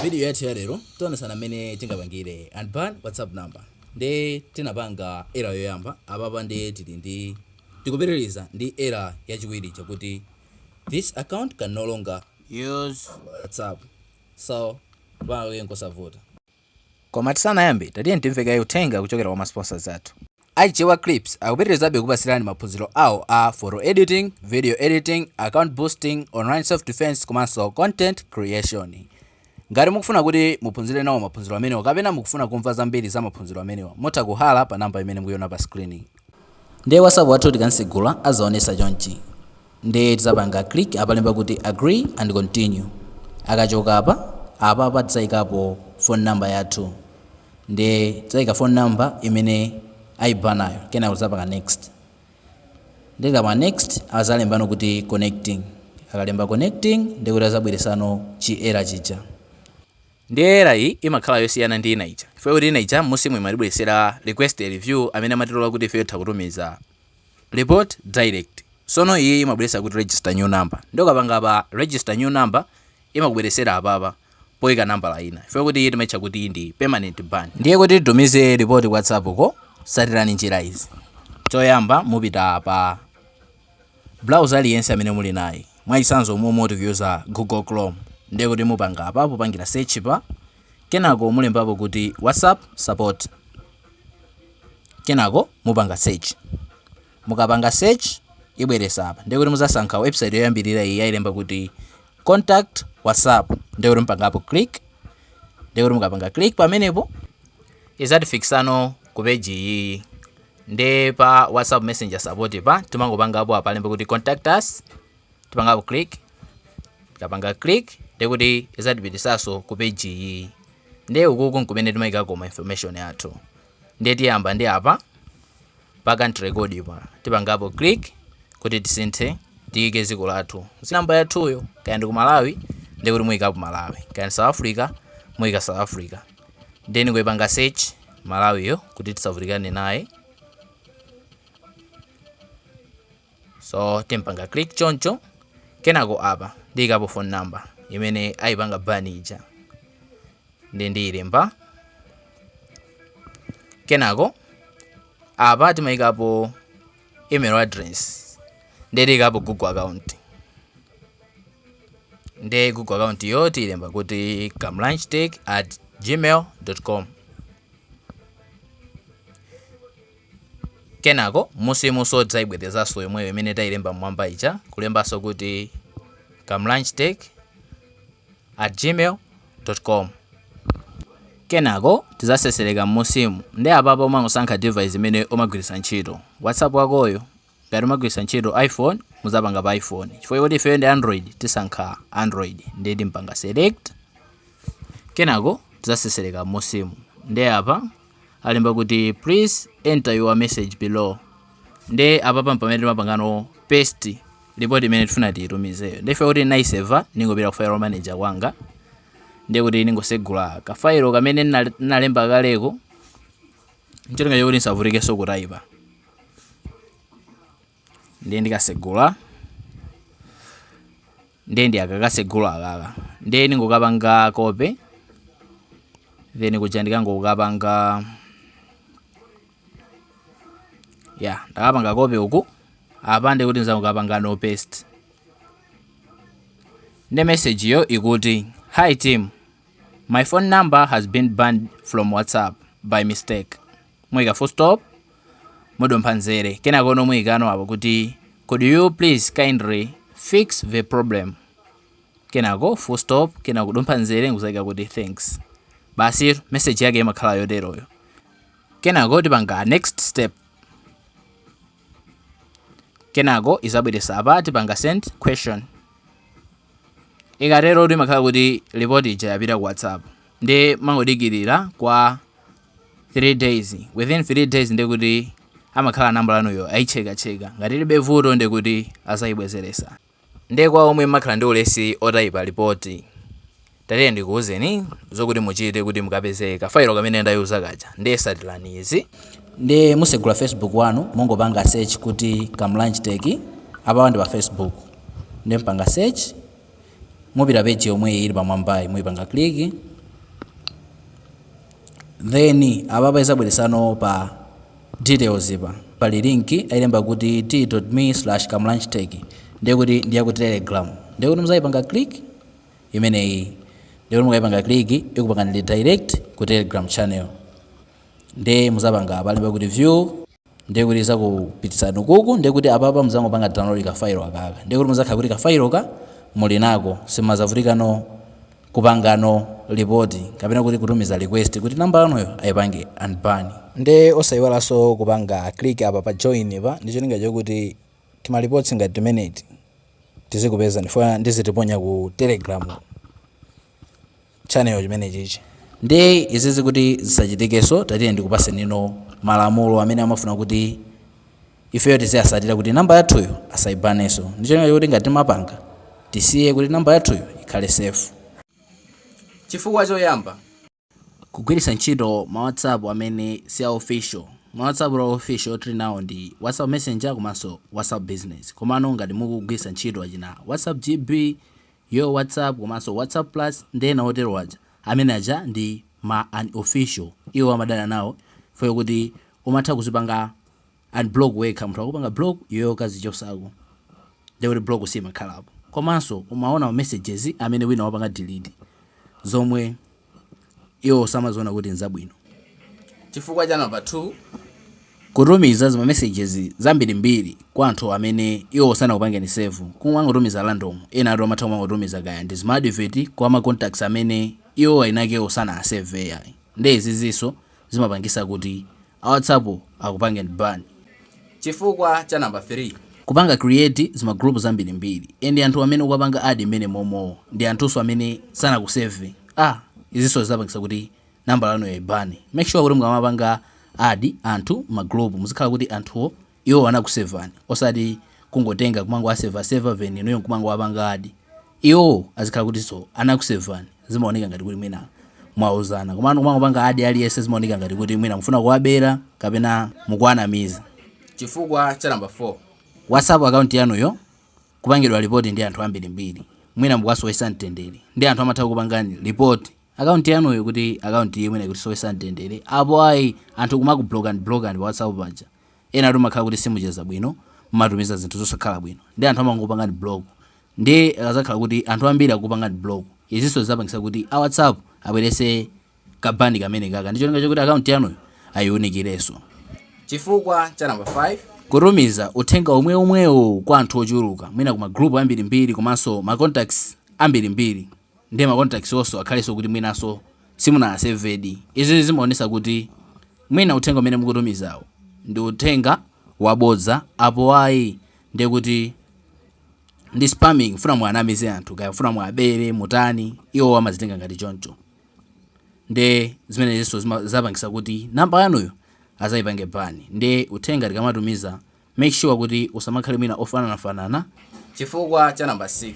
Video yathu ya lero tionesana mmene tingapangire unban WhatsApp number. Nde tinapanga error yoyamba, apapa nde tili ndi tikupitiriza ndi error yachiwiri ija kuti this account can no longer use WhatsApp. So pali nkosavuta. Koma tisanayambe tatiyeni timve kaye uthenga kuchokera kwa ma sponsors athu. A Chewa Clips akupitirizabe kukupatsirani maphunziro awo a Photo Editing, Video Editing, Account Boosting, Online Self Defense komanso Content Creation. Ngati mukufuna kuti muphunzire nawo maphunziro amenewa kapena mukufuna kumva zambiri za maphunziro amenewa, mutha kuhalla pa namba imene mukuiona pa screen. Ndiye WhatsApp wathu tikantsegula adzaonetsa chonchi. Ndiye tidzapanga click apa alemba kuti agree and continue akachoka apa apapa tidzaikapo phone number yathu ndiye tidzaika phone number imene aibanayo kenako tidzapanga next ndiye tikapanga next azalembano kuti connecting akalemba connecting ndiye kuti azabweresano chi error chija ndiye error iyi imakhala yosiyana ndi ina ija chifukwa kuti ina ija musimu imatibweresera request a review amene amatilola kuti ifeyo titha kutumiza Report direct sono iyi imabweresa kuti register new number nde ukapanga apa register new number imakubweresera apapa poika nambala ina chifukwa kuti iyi timaitcha kuti ndi permanent ban ndiye kuti titumize report ku whatsapp ko satirani njira izi choyamba mupita pa browser aliyense amene muli naye mwachisanzo momwe tikuyuza google chrome ndiye kuti mupanga apa popangira search pa kenako mulembapo kuti whatsapp support kenako mupanga search mukapanga search ibweresa apa ndiye kuti muzasankha website yoyambirira iyi ayilemba kuti contact whatsapp ndiye kuti mupangapo click ndiye kuti mukapanga click pamenepo izatifikisano ku page iyi nde pa whatsapp messenger support pa timangopangapo apa alemba kuti contact us tipangapo click tikapanga click ndekuti izatipitisaso ku page iyi ndiye ukuku nkumene timayikako ma information athu ndiye tiyamba ndi apa pa country code pa tipangapo click kuti tisinthe tiyike dziko lathu namba yathuyo kaya ndi ku malawi ndiye kuti muyikapo malawi kaya ndi south africa muyika south africa ndiye ndiyipanga search malawiyo kuti tisavutikane naye so tipanga click choncho kenako apa ndiyikapo phone number imene ayipanga ban ija nde ndiyilemba kenako apa timayikapo email address nde tiyikapo google account nde google account yo tiyilemba kuti kamlanshtech at gmail dot com Kenako m'munsimuso tidzaibwerezanso yomweyo imene tailemba m'mwamba ija, kulembanso kuti kamlanjtech@gmail dot com. Kenako tidzaseseleka m'munsimu, nde apapa umangosankha device imene umagwiritsa ntchito, WhatsApp wakoyo, Ngati mumagwiritsa ntchito iphone muzapanga pa iphone chifukwa choti ifeyo ndi android tisankha android ndiye timapanga select kenako tizaseseleka m'musimu ndiye apa alemba kuti please enter your message below ndiye apapa mpamene timapangano paste report imene tifuna tiitumizeyo ndiye ife kuti ndinaiseva ningopita ku file manager kwanga ndiye kuti ningosegula kafailo kamene nnalemba kaleko ncholinga chakuti ndisavutikenso kutaipa ndiye ndikasegula ndiye ndiyakakasegula akaka ndiye ndingokapanga copy then kuja ndikangokapanga ya ndakapanga copy uku apa ndekuti ndizangokapangano paste nde message yo ikuti hi team My phone number has been banned from WhatsApp by mistake. Muika full stop, mudompha nzere. Kenako no muikano apo kuti could you please kindly fix the problem. Kenako full stop, kenako kudumpha nzere nkuzaika kuti thanks. Basi message yake imakhala yoteroyo. Kenako tipanga next step. Kenako izabweresa apa tipanga send question. Ikaterotu imakhala kuti report ija yapita ku WhatsApp nde mungodikilira kwa 3 days, within 3 days ndekuti amakhala number yanuyo ayicheka cheka ngati ilibe vuto ndekuti azayibwezeresa. Nde kwa omwe mmakhala ndi ulesi wotayipa report. Tatiye ndikuuzeni zokuti muchite kuti mukapeze ka file kamene ndayuzako kaja ndiye satilani izi. Ndiye musegula facebook wanu mungopanga search kuti Kamlanj Tech apapa ndi pa facebook ndiye mpanga search mupeza page yomweyi ili pamwambayi muipanga click then apapa izabweresano pa details pa pali link alemba kuti t.me/kamlanjtech ndiye kuti ndi ya ku telegram ndiye kuti muzaipanga click imeneyi ndekuti mukaipanga click ikupangani redirect ku telegram channel nde muzapanga apa alemba kuti view ndekuti izakupititsani ukuku ndekuti apapa muzangopanga download ka file akaka ndekuti muzakhala kuti ka file ka muli nako simuzavutikano kupangano report kapena kuti kutumiza request kuti namba yanuyo aipange unban nde osaiwalanso kupanga click apa pa join pa ndicholinga chokuti tima reports ngati timeneti tizikupeza ndifuna ndizitiponya ku telegram channel chimenechichi ndiye izizi kuti zisachitikeso tatiye ndikupasenino malamulo amene amafuna kuti ifeyo tiziyasatira kuti namba yathuyo asayibaneso ndi cholinga chokuti ngati timapanga tisiye kuti namba yathuyo ikhale safe chifukwa choyamba Kugwiritsa ntchito ma whatsapp amene si a official, ma whatsapp a official tili nawo ndi whatsapp messenger komanso whatsapp business komano ngati mukugwiritsa ntchito achina whatsapp GB, Yo whatsapp komanso whatsapp plus ndi ena oterowo aja, amene aja ndi ma unofficial iwo amadana nawo chifukwa chokuti umatha kuzipanga. unblock wekha munthu akupanga block iweyo ukazichosako ndiye kuti block siimakhalapo komanso umaona ma messages amene wina wapanga delete zomwe iwowo samaziona kuti nzabwino chifukwa cha number 2 kutumiza zima messages zambirimbiri kwa anthu amene iwowo sanakupangeni save kumangotumiza random enatu amatha kumangotumiza kaya ndi zima advert kwa ma contacts amene iwowo eni akewo sanawasave ai ndiye izizinso zimapangisa kuti A whatsapp akupangeni ban chifukwa cha number 3. Kupanga create zima group zambirimbiri and anthu amene ukuwapanga add mmene momowo ndi anthunso amene sanakusave ah izinso zizapangisa kuti nambala yanuyo ayibane make sure kuti mukamapanga add anthu mma group muzikhala kuti anthuwo Iwo anakusevani osati kungotenga kumangowaseva seva then inuyo nkumangowapanga add. Iwo azikhala kutinso anakusevani zimaoneka ngati kuti mwina mwauzana komano kumangopanga add aliyense zimaoneka ngati kuti mwina mufuna kuwabera kapena mukuwanamiza. Chifukwa cha number 4. Whatsapp account yanuyo kupangidwa report ndi anthu ambirimbiri mwina mukuwasowesa mtendere nde anthu amatha kukupangani report account yanuyo kuti account iyi mwina ikutisowesa mtendere apo ayi anthu kumakublockani blockani pa whatsapp paja. enatu mmakhala kuti simucheza bwino mmatumiza zinthu zosakhala bwino nde anthu amangokupangani block nde akazakhala kuti anthu ambiri akukupangani block izinso zizapangisa kuti a whatsapp abwerese ka ban kamenekaka ndi cholinga chokuti account yanuyo ayiunikireso. Chifukwa cha number 5. Kutumiza uthenga omweomwewo kwa anthu ochuluka mwina ku ma group ambirimbiri komanso ma contacts ambirimbiri. Ndiye ma contacts wonso akhalenso kuti mwinanso simunawasevedi. Izizi zimaonesa kuti mwina uthenga umene mukutumizawu ndi uthenga wabodza apo ayi ndiye kuti ndi spamming kufuna muwanamize anthu kaya kufuna muwabere mutani iwowo amazitenga ngati choncho ndiye zimenezinso zizapangisa kuti namba yanuyo azayipange ban ndiye uthenga tikamatumiza Make sure kuti usamakhale mwina ofananafanana. Chifukwa cha number 6.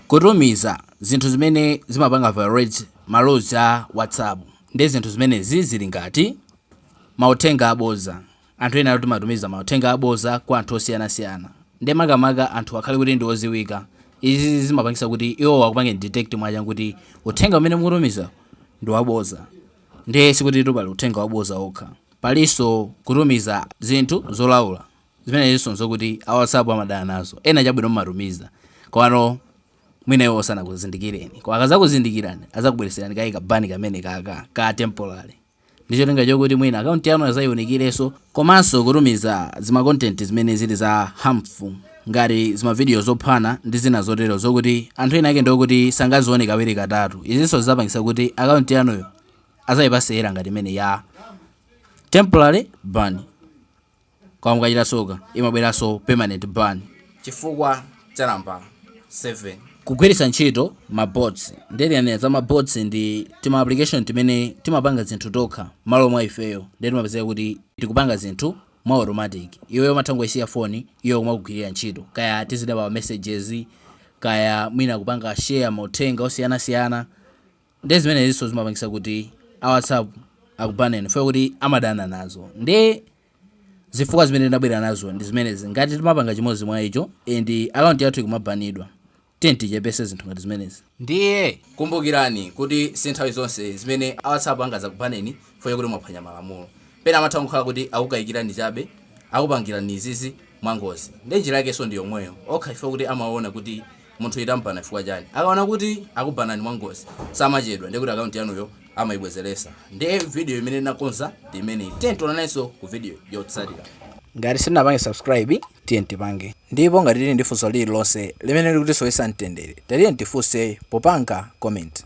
Kutumiza zinthu zimene zimapanga violate ma laws a WhatsApp. Nde zinthu zimenezi zili ngati, Mauthenga aboza. Anthu enatu timatumiza mauthenga aboza kwa anthu osiyanasiyana. Nde makamaka anthuwa akhale kuti ndi oziwika. Izizi zimapangisa kuti iwowo akupangeni detect mwachangu kuti uthenga umene mukutumizawu ndi waboza. Nde sikutitu pali uthenga waboza wokha. Palinso kutumiza zinthu zolaula. Zimenezinso n'zokuti a WhatsApp amadana nazo. Ena chabwino mumatumiza, komano mwina iwowo sanakuzindikireni. Koma akadzakuzindikirani adzakubweretserani kaye ka ban kamenekaka ka temporary ndi cholinga chokuti mwina akaunti yanu adzayiunikirenso. Komanso kutumiza zima content zimene zili za harmful ngati zimavidiyo zophana ndi zina zotero zokuti anthu enaake ndi okuti sangazione kawiri katatu. Izinso zidzapangitsa kuti akaunti yanuyo. azaipasera ngati imene ya temporary ban koma mukachita soka imabweranso permanent ban chifukwa cha nambala 7 kugwiritsa ntchito mabots nde ndikanena za mabots ndi tima application timene timapanga zinthu tokha malo mwa ifeyo nde timapezeka kuti tikupanga zinthu mwa automatic iweyo umatha kungoyisiya foni iyo kumakugwirira ntchito kaya tizidaba messages kaya mwina kupanga share mauthenga osiyanasiyana Ndiye zimeneziso zimapangisa kuti a whatsapp akubaneni chifukwa choti amadana nazo ndiye zifukwa zimene ndinabwera nazo ndi zimenezi ngati timapanga chimodzi mwa icho and account yathu ikumabanidwa tiyeni tichepese zinthu ngati zimenezi ndiye kumbukirani kuti si nthawi zonse zimene a whatsapp angazakubaneni chifukwa chakuti mwaphwanya malamulo pena amatha kungokhala kuti akukayikirani chabe akupangirani izizi mwangozi ndiye njira yakeso ndi yomweyo okha chifukwa chakuti amaona kuti Munthu tamubana chifukwa chani? Akaona kuti akubanani mwa ngozi samachedwa ndi kuti account yanuyo amayibwezeresa. Ndiye video imene ndinakonza ndi imeneyi. Tiyeni tionanenso ku video yotsatira. Ngati sitinapange subscribe tiyeni tipange. Ndipo ngati tili ndi funso lililonse limene likutisowesa mtendere tatiyeni tifunse popanga comment.